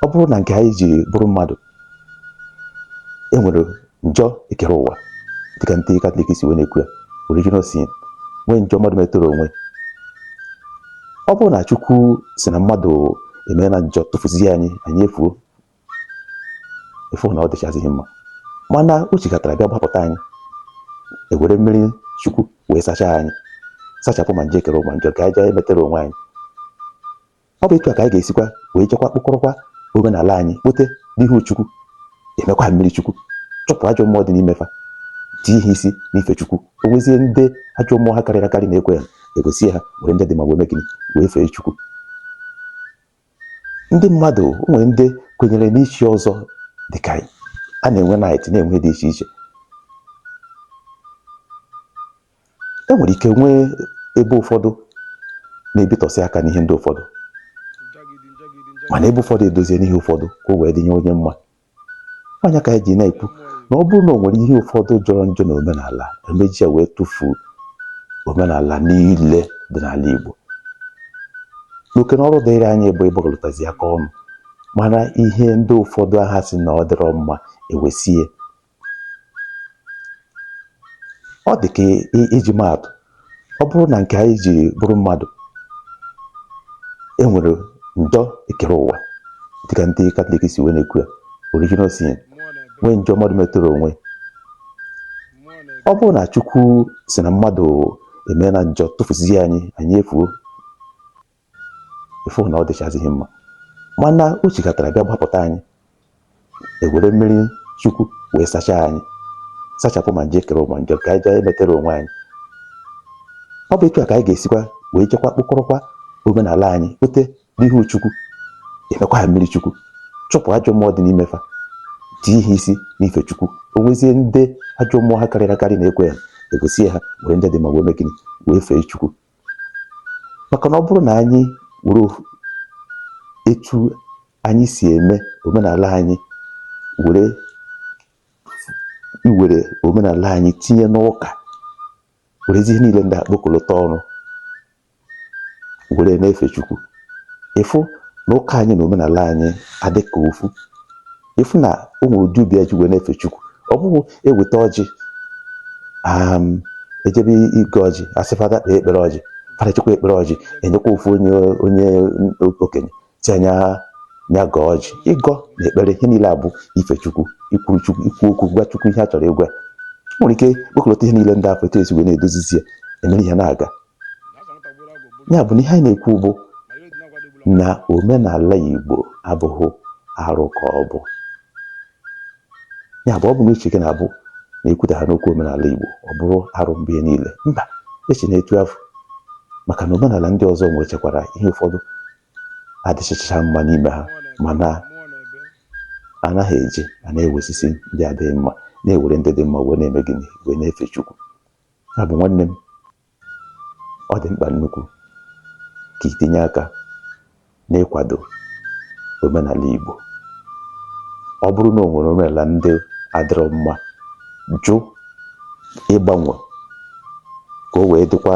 ọ bụrụ na nke anyị ji bụrụ mmadụ e nwere njọ ekere ụwa dịka ndị katọlik si wee na-ekwu ya original sin nwee njọ mmadụ metere onwe ọ bụrụ na chukwu sị na mmadụ emeela njọ tụfuzie anyị anyị efuo ịfụ na ọ dịchazighị mma mana o chekatara bịa gbapụta anyị ewere mmiri chukwu wee sachaa anyị sachapụ ma njọ ekere ụwa njọ nke anyị jee emetere onwe anyị Ọ bụ etu a ka anyị ga-esikwa wee jekwa kpokọrọkwa omenala anyị kpote n'ihu Chukwu, emekwa ha mmiri Chukwu, chụpụ ajọ mmụọ dị n'ime fa, tie ha isi n'ife Chukwu. O nwezie ndị ajọ mmụọ ha karịrị akarị na-ekwe ya, egosie ha were ndị dị mma wee mee gịnị wee fee Chukwu. Ndị mmadụ o nwere ndị kwenyere n'ichi ọzọ dị ka anyị. A na-enwe knight na-enwe ihe dị iche iche. e nwere ike nwee ebe ụfọdụ na-ebitụsị aka n'ihe ndị ụfọdụ mana ebe ụfọdụ edozie n'ihe ụfọdụ ka o wee dịnye onye mma ọ nya ka anyị ji na-ekwu na ọ bụrụ na o nwere ihe ụfọdụ jọrọ njọ na omenala a ma-eji ya wee tụfuo omenala niile dị n'ala Igbo n'oke na ọrụ dịrị anyị bụ ịgbakọlịtazi aka ọnụ mara ihe ndị ụfọdụ ha sị na ọ dịrọ mma ewesie ọ dị ka iji maa atụ ọ bụrụ na nke anyị ji bụrụ mmadụ e nwere njọ ekere ụwa dịka ndị katọlik si wee na-ekwu ya original sin nwee njọ mmadụ metere onwe ọ bụrụ na chukwu sị na mmadụ emeela njọ tụfuzie anyị anyị efuo ịfụ na ọ dịchazighị mma mana o chekatara bịa gbapụta anyị ewere mmiri chukwu wee sachaa anyị sachapụ ma njọ ekere ụwa ma njọ nke anyị jee emetere onwe anyị ọ bụ etu a ka anyị ga-esikwa wee jekwa kpokọrọkwa omenala anyị kpote n'ihu chukwu emekwa ha mmiri chukwu chụpụ ajọ mmụọ dị n'ime fa tie ha isi n'ife chukwu o nwezie ndị ajọ mmụọ ha karịrị akarị na-ekwe ya egosie ha were ndị dị mma wee mee gịnị wee fee chukwu maka na ọ bụrụ na anyị were etu anyị si eme omenala anyị were iwere omenala anyị tinye n'ụka werezi ihe niile ndị a kpokọlọta ọnụ were na-efe Chukwu ịfụ na ụka anyị na omenala anyị adịka ofu ịfụ na o nwere ụdị obi eji wee na-efe chukwu ọ bụghị eweta ọjị um, ejebe ịgọ ọjị a sị fada kpee ekpere ọjị fada kpechaa ekpere ọjị enyekwa ofu onye onye okenye sị ya ya gọọ ọjị ịgọ na ekpere ihe niile a bụ ife chukwu ikwuru chukwu ikwu okwu gwa chukwu ihe a chọrọ ịgwa nwere ike kpokọlọta ihe niile ndị a fụ etu esi wee na-edozizi ya emere ihe na-aga ya bụ na ihe anyị na-ekwu bụ na omenala Igbo abụghị arụ ka ọ bụ ya bụ ọ bụ na uche gị na-abụ na ekwutahana okwu omenala Igbo ọ bụrụ arụ mgbe niile mba echena etu afụ maka na omenala ndị ọzọ nwechekwara ihe ụfọdụ adịchaghị mma n'ime ha mana anaghị eji a na-ewesisi ndị adịghị mma na-ewere ndị dị mma wee na-eme gịnị wee na-efe Chukwu Ya bụ nwanne m, ọ dị mkpa nnukwu ka itinye aka n'ịkwado omenala Igbo. Ọ bụrụ na o nwere omenala ndị adịrọ mma, jụ ịgbanwe ka o wee dịkwa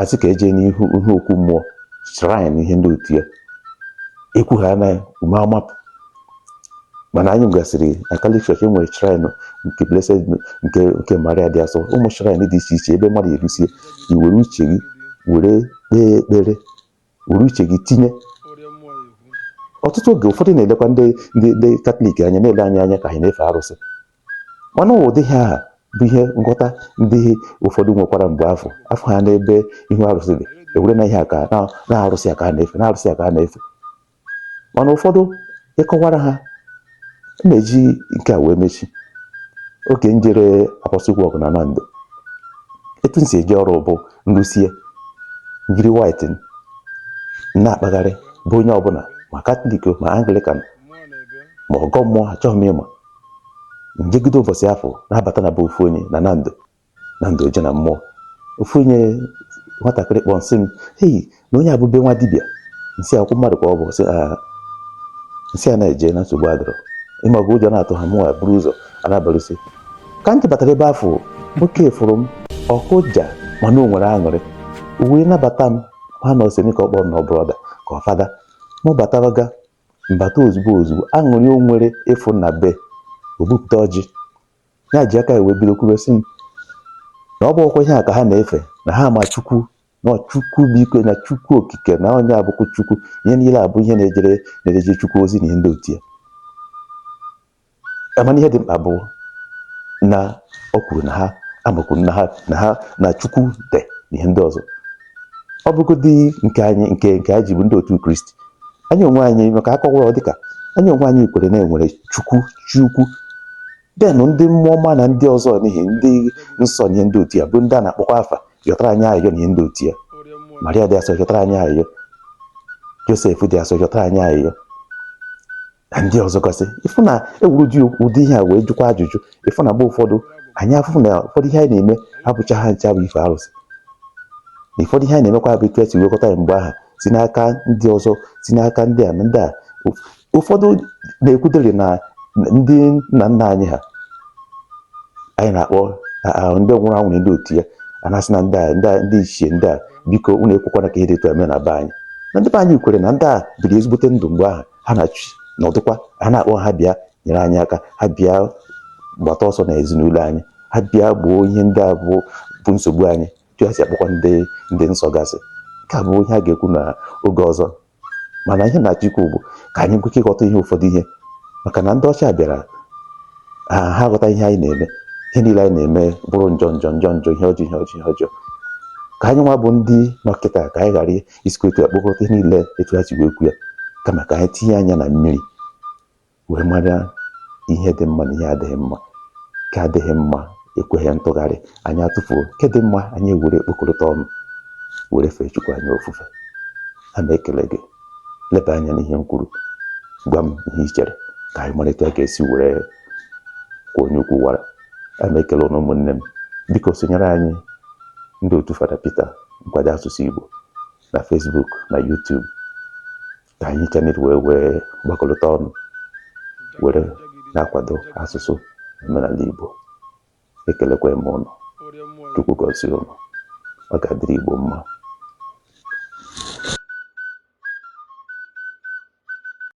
a sị ka e je n'ihu ihe okwu mmụọ shrine ihe ndị etu a ekwuhana ume amapụ mana anyị gasịrị na katọlik e nwere shrine nke blessed nke nke maria dị asọ ụmụ shrine dị iche iche ebe mmadụ erusie i were uche gị were kpee ekpere were uche gị tinye ọtụtụ oge ụfọdụ na-elekwa ndị ndị katọlik anya na-ele anyị anya ka anyị na-efe arụsị mana ụdị ihe ahụ bụ ihe nghọta ndị ụfọdụ nwekwara mgbe a fụ a fụ ha n'ebe ihu arụsị dị ewere na ihe a ka na arụsị a ka a na-efe na arụsị a ka a na-efe mana ụfọdụ ị kọwara ha na-eji nke a wee mechi oge m jere apostolic work na nando etu m si eje ọrụ bụ m rụsịa m jiri white na-akpagharị be onye ọbụla ma katọlik ma anglikan ma ọgọ mmụọ achọghị m ịma m jegide ụbọchị afụ na-abata na be ofu onye na nando nando oje na mmụọ ofu onye nwatakịrị kpọọ m sị m hei na onye a bụ be nwa dibịa m sị ọkwa mmadụ ka ọ bụ sị "Ah, m sị a na-eje na nsogbu adịrọ ịma ọgụ ụjọ na-atụ ha mụwa buru ụzọ a na-abalụsi ka m tụbatara ebe afụ nwoke fụrụ m ọ kụja mana o nwere aṅụrị o wee nabata m ha na ọ semi ka ọ kpọrọ na brọda ka ọ fada mụ batabaga m bata ozugbo ozugbo aṅụrị o nwere ịfụ m na be o bupụta ọjị ya ji aka wee bido kwuru sị m na ọ bụrọkwa ihe a ka ha na-efe na ha ma chukwu na chukwu bụ ike na chukwu okike na onye a bụkwu chukwu ihe niile a bụ ihe na-ejere na-ejere chukwu ozi na ihe ndị etu a mana ihe dị mkpa bụ na o kwuru na ha amakwuru na ha na ha na chukwu dị na ihe ndị ọzọ ọ bụgodị nke anyị nke nke anyị ji bụ ndị otu kristi anyị onwe anyị maka a kọwaa ọ dịka anyị onwe anyị kwere na e nwere chukwu chi ukwu then ndị mmụọ ọma na ndị ọzọ n'ihi ndị nsọ na ihe ndị etu a bụ ndị a na-akpọkwa afa yọtara anyị ayịyọ na ihe ndị etu a maria dị asọ yọtara anyị ayịyọ josef dị asọ yọtara anyị ayịyọ na ndị ọzọ gasị ịfụ na ewuru dị ụdị ihe a wee jụkwa ajụjụ ịfụ na mgbe ụfọdụ anyị afụ na ụfọdụ ihe anyị na-eme abụcha ha ncha bụ ife arụsị na ụfọdụ ihe anyị na-emekwa bụ etu e si wekọta ya mgbe aha si n'aka ndị ọzọ si n'aka ndị a na ndị a ụfọdụ na-ekwutere na ndị nna nna anyị ha anyị na-akpọ ndị nwụrụ anwụ na ndị otu ya a na-asị na ndị a ndị ichie ndị a biko unu ekwekwana ka ihe dị etu a mee na be anyị na ndị be anyị kwere na ndị a biri ezigbote ndụ mgbe ahụ ha na chi nọdụkwa a na-akpọ ha bịa nyere anyị aka ha bịa gbata ọsọ na ezinụlọ anyị ha bịa gboo ihe ndị a bụ bụ nsogbu anyị etu e si akpọkwa ndị ndị nsọ gasị nke a bụ ihe a ga-ekwu na oge ọzọ mana ihe m na-achọ ikwu bụ ka anyị nwee ike ịghọta ihe ụfọdụ ihe maka na ndị ọcha bịara ha aghọtaghị ihe anyị na-eme ihe niile anyị na-eme bụrụ njọ njọ njọ njọ ihe ọjọọ ihe ọjọọ ihe ọjọọ ka anyị nwa bụ ndị nọ kịta ka anyị ghara isikwa etu ya kpokọta ihe niile etu ha si wee kwu ya kama ka anyị tinye anya na mmiri wee mara ihe dị mma na ihe adịghị mma nke adịghị mma ekweghị ntụgharị anyị atụfuo nke dị mma anyị were ekpokọrịta ọnụ were fee chukwu anyị ofufe a na-ekele gị leba anya n'ihe m kwuru gwa m ihe i chere ka anyị mara etu a ga-esi were kwuo onye ukwu wara a na-ekele ụnụ ụmụnne m biko sonyere anyị ndị otu fada Peter nkwado asụsụ Igbo na Facebook na YouTube ka anyị ncha niile wee wee gbakọlọta ọnụ were na-akwado asụsụ omenala Igbo ekelekwa m ụnụ Chukwu gọzie ụnụ ọ ga-adịrị Igbo mma